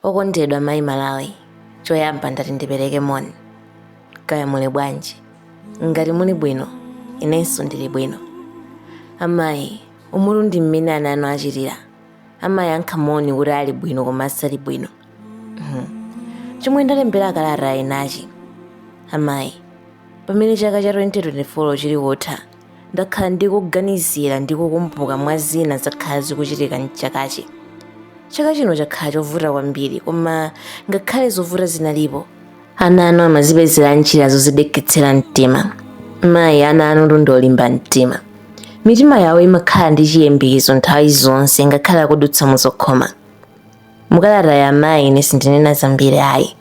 Okondedwa Mayi Malawi, choyamba ndati ndipereke moni. Kaya muli bwanji? Ngati muli bwino, inenso ndili bwino. Amayi, umu ndi mmene ana anu achitira. Amayankha moni kuti ali bwino koma asali bwino. Mhm. Chomwe ndalembera kalata inachi. Amayi, pamene chaka cha 2024 chili kutha, ndakhala ndikuganizira ndi kukumbuka mwa zina zakhala zikuchitika mchakachi chaka chino chakhala chovuta kwambiri koma ngakhale zovuta zinalipo ana anu amazipezera njira zozideketsera mtima mayi ana anu ndi olimba mtima mitima yawo imakhala ndi chiyembekezo nthawi zonse ngakhale akudutsa muzokhoma mukalata ya mayi ine sindinena zambiri ayi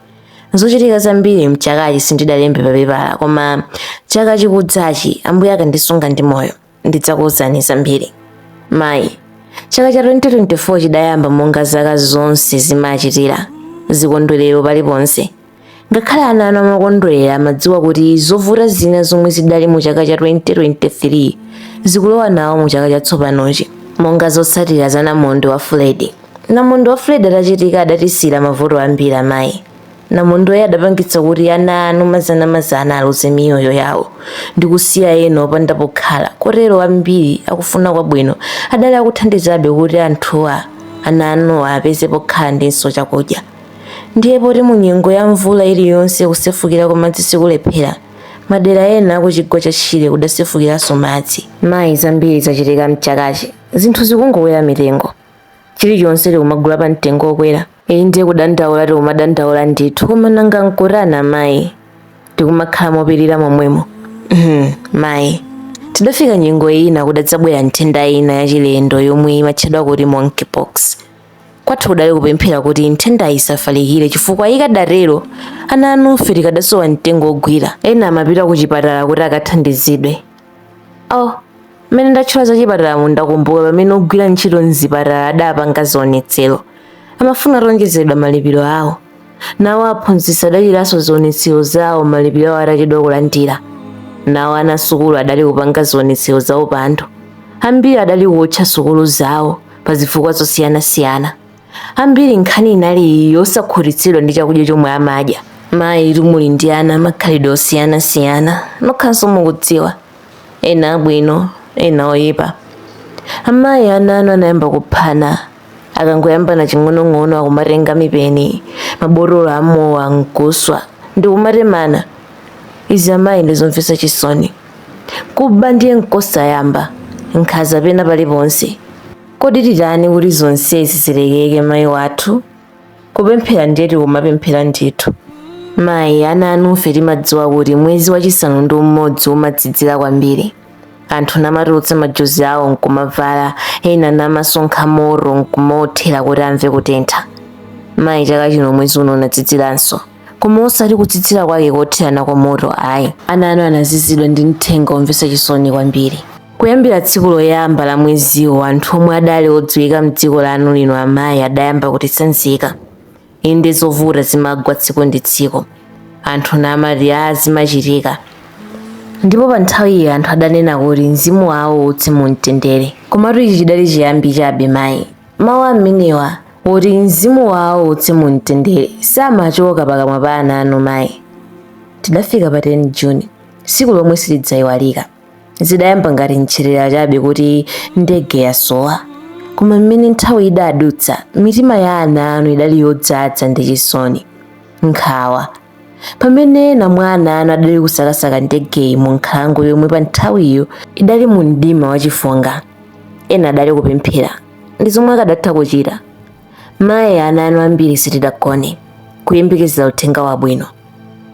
zochitika zambiri mchakachi sindidalembe papepala koma chaka chikudzachi ambuye akandisunga ndi moyo ndidzakuwuzani zambiri mayi chaka cha 2024 chidayamba monga zaka zonse zimachitira zikondwerero paliponse Ngakhale ana anu amakondwerera amadziwa kuti zovuta zina zomwe zidali mu chaka cha 2023 zikulowa nawo mu chaka chatsopanochi monga zotsatira za namondwe wa Freddy. Namondwe wa Freddy atachitika adatisira mavuto ambiri amayi. Namondweyo adapangitsa kuti ana anu mazanamazana aluze miyoyo yawo ndi kusiya ena opanda pokhala kotero ambiri akufuna kwabwino adali akuthandizabe kuti anthuwa ana anuwa apeze pokhala ndinso chakudya. Ndiye poti mu nyengo ya mvula iliyonse kusefukira kwa madzi sikulephera, madera ena a ku chigwa cha Shire kudasefukiranso madzi. Mayi, zambiri zachitika m'chakachi. Zinthu zikungokwera mitengo. Chilichonse tikumagula pa mtengo wokwera. Inde kudandaula tikumadandaula ndithu, koma nanga n'kutani amayi? Tikumakhala mopirira momwemo. Mayi, tidafika nyengo ina kudadzabwera nthenda ina yachilendo yomwe imatchedwa kuti monkeypox. kwathu kudali kupemphera kuti nthendayi isafalikire chifukwa ikadatero ana anufe tikadasowa mtengo wogwira ena amapita ku chipatala kuti akathandizidwe oh mmene ndatchula za chipatalamu ndakumbuka pamene ogwira ntchito mzipatala adapanga zionetsero amafuna awonjezeredwe malipiro awo nawo aphunzitsi adachitanso zionetsero zawo malipiro awo atachedwa kulandira nawo ana sukulu adali kupanga zionetsero za upandu ambiri adali kuotcha sukulu zawo pa zifukwa zosiyanasiyana ambiri nkhani inali yosakhutitsidwa ndi chakudya chomwe amadya mayi muli ndi ana amakhalidwe osiyanasiyana nokhanso mukudziwa ena abwino ena oyipa amayi ana anu anayamba kuphana akangoyambana ching'onong'ono akumatenga mipeni mabotolo amowa nkuswa ndikumatemana izi amayi ndizomvetsa chisoni kuba ndiye nkosayamba nkhaza pena paliponse kodi titani kuti zonsezi zilekeke mayi wathu kupemphera ndiye tikumapemphera ndithu mayi ana anufe timadziwa kuti mwezi wachisanu ndi umodzi umazizira kwambiri anthu namatulutsa majuzi awo nkumavala ena namasonkha moto nkumaothera kuti amve kutentha mayi chaka chino mwezi uno unaziziranso koma osati kuzizira kwake kotherana kwa moto ayi ana anu anazizidwa ndi mthenga omvetsa chisoni kwambiri kuyambira tsiku loyamba la mweziwo anthu omwe adali odziwika mdziko lanu lino amayi adayamba kutitsanzika inde zovuta zimagwa tsiku ndi tsiku anthu namati a zimachitika ndipo pa nthawiyi anthu adanena kuti mzimu wawo uuse mu mtendere komatu ichi chidali chiyambi chabe mayi Mawu amenewa oti mzimu wawo uuse mu mtendere samachoka pakamwa pa ana anu mayi. Tidafika pa 10 Juni, tsiku lomwe silidzaiwalika. Zidayamba ngati nchezera chabe kuti ndege yasowa. Koma mmene nthawi idadutsa, mitima ya ana anu idali yodzadza ndi chisoni, nkhawa pamene ena mwa ana anu adali kusakasaka ndegeyi mu nkhalango yomwe pa nthawiyo idali mu mdima wachifunga ena adali kupemphera ndi zomwe akadatha kuchita mayi ana anu ambiri sitidagone kuyembekezera uthenga wabwino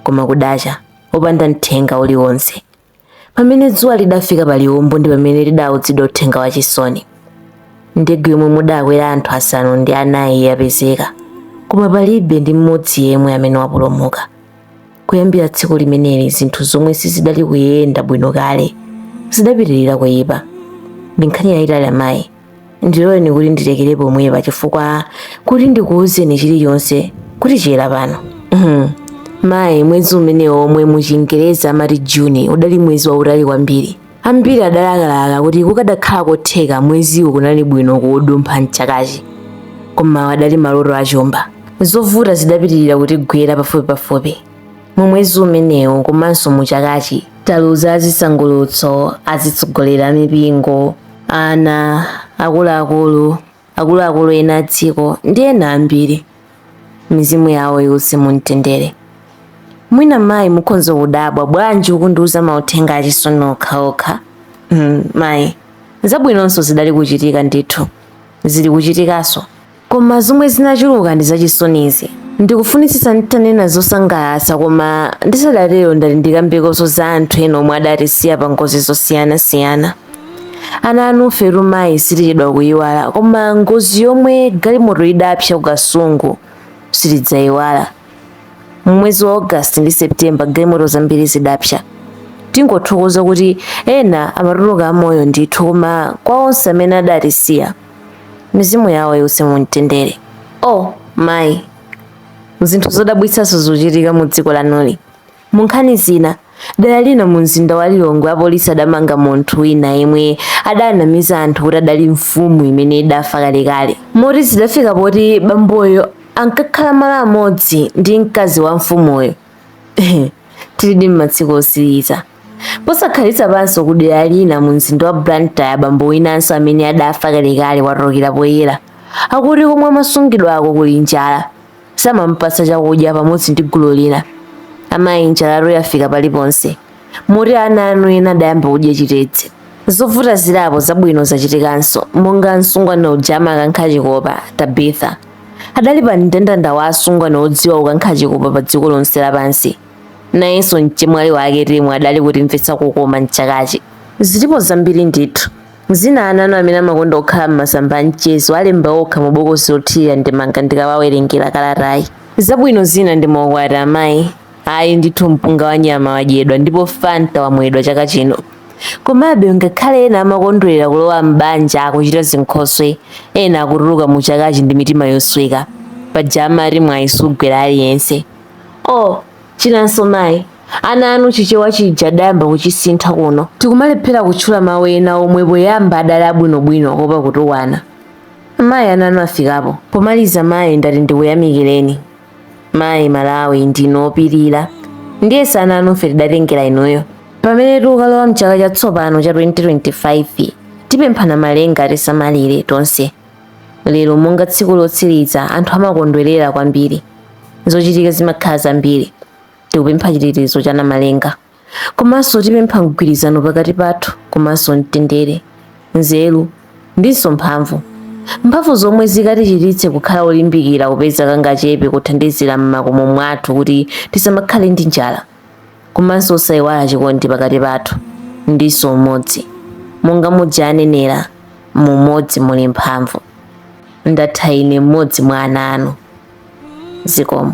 koma kudacha opanda mthenga uliwonse pamene dzuwa lidafika pa liwombo ndi pamene tidaudzidwa uthenga wachisoni ndege yomwe mudakwera anthu asanu ndi anayi yapezeka koma palibe ndi mmodzi yemwe amene wapulumuka kuyambira tsiku limeneli zinthu zomwe sizidali kuyenda bwino kale zidapitirira kuyipa ndi nkhani yayitali amayi ndiloleni kuti ndilekere pomwepa chifukwa kuti ndikuwuzeni chilichonse kutichera pano mayi mwezi umenewo omwe muchingerezi amati juni udali mwezi wautali kwambiri ambiri adalakalaka kuti kukadakhala kotheka mweziwo kunali bwino kuudumpha mchakachi koma adali maloto achumba zovuta zidapitirira kutigwera pafupipafupi mu mwezi umenewu komanso mu chakachi taluza azisangalutso azitsogoleri a mipingo ana akuluakulu akuluakulu ena a dziko ndi ena ambiri mizimu yawo iwuse mumtendere mwina mayi mukhoza kudabwa bwanji ukundiuza mauthenga achisoni okhaokha mayi zabwinonso zidali kuchitika ndithu zili kuchitikanso Koma zomwe zinachuluka ndi zachisonizi. Ndikufunitsitsa nditanena zosangalatsa koma ndisadatero ndati ndikambekoso za anthu ena omwe adatisiya pa ngozi zosiyanasiyana. Ana anufe mayi sitichedwa kuyiwala koma ngozi yomwe galimoto idapsa ku Kasungu sitidzayiwala. M'mwezi wa August ndi September galimoto zambiri zidapsa. Tingothokoza kuti ena amatuluka amoyo ndithu koma kwa onse amene adatisiya mizimu yawo iwuse mu mtendere o oh, mayi zinthu zodabwitsanso zochitika mu dziko lanuli mu nkhani zina dera lina mu mzinda wa lilongwe apolisi adamanga munthu wina yemwe adanamiza anthu kuti adali mfumu imene idafa kalekale moti zidafika poti bamboyo ankakhala malo amodzi ndi mkazi wa mfumuyo tilidi m'matsiku osiriza posakhalitsa panso ku dera lina mu mzinda wa blantyre bambo winanso amene adafa kalekale watulukira poyera akuti komwe amasungidwako kuli njala samampatsa chakudya pamodzi ndi gulu lina amayi njalatu yafika paliponse moti ana anu ena adayamba kudya chitedze zovuta zili apo zabwino zachitikanso monga msungwana uja amakankha chikopa tabitha adali pa mndandanda wa asungwana odziwa kukankha chikopa pa dziko lonse lapansi nayenso mchemwali wake temwa adali kutimvetsa kukoma mchakachi zilipo zambiri ndithu zina ana anu amene amakonda kukhala m'masamba a mchezo alemba okha mu bokosi lothirira ndemanga ndikawawerengera kalatayi zabwino zina ndi maukwati amayi Ayi ndithu mpunga wa nyama wadyedwa ndipo Fanta wamwedwa chaka chino. Komabe ngakhale ena amakondwerera kulowa m'banja akuchita zinkhoswe, ena akutuluka mu chakachi ndi mitima yosweka. Paja amati mwayi sugwera aliyense. Oh, chinanso mayi, ana anu Chichewa chija adayamba kuchisintha kuno. Tikumalephera kutchula mawu ena omwe poyamba adali abwinobwino kuopa kutukwana. Mayi ana anu afikapo. Pomaliza mayi ndati ndikuyamikireni. mayi malawi ndinu opirira ndiyeso ana anufe tidatengera inuyo pamene tikukalowa mchaka chatsopano cha 2025 tipempha namalenga tisamalire tonse lero monga tsiku lotsiriza anthu amakondwerera kwambiri zochitika zimakhala zambiri tikupempha chitetezo cha namalenga Komanso tipempha mgwirizano pakati pathu komanso mtendere, nzeru ndinso mphamvu. Mphamvu zomwe zikatichititse kukhala olimbikira kupeza kangachepe kothandizira m'makomo mwathu kuti tisamakhale ndi njala. Komanso osaiwala chikondi pakati pathu ndinso umodzi. Monga muja anenera, mu umodzi muli mphamvu. Ndatha ine m'modzi mwa ana anu. Zikomo.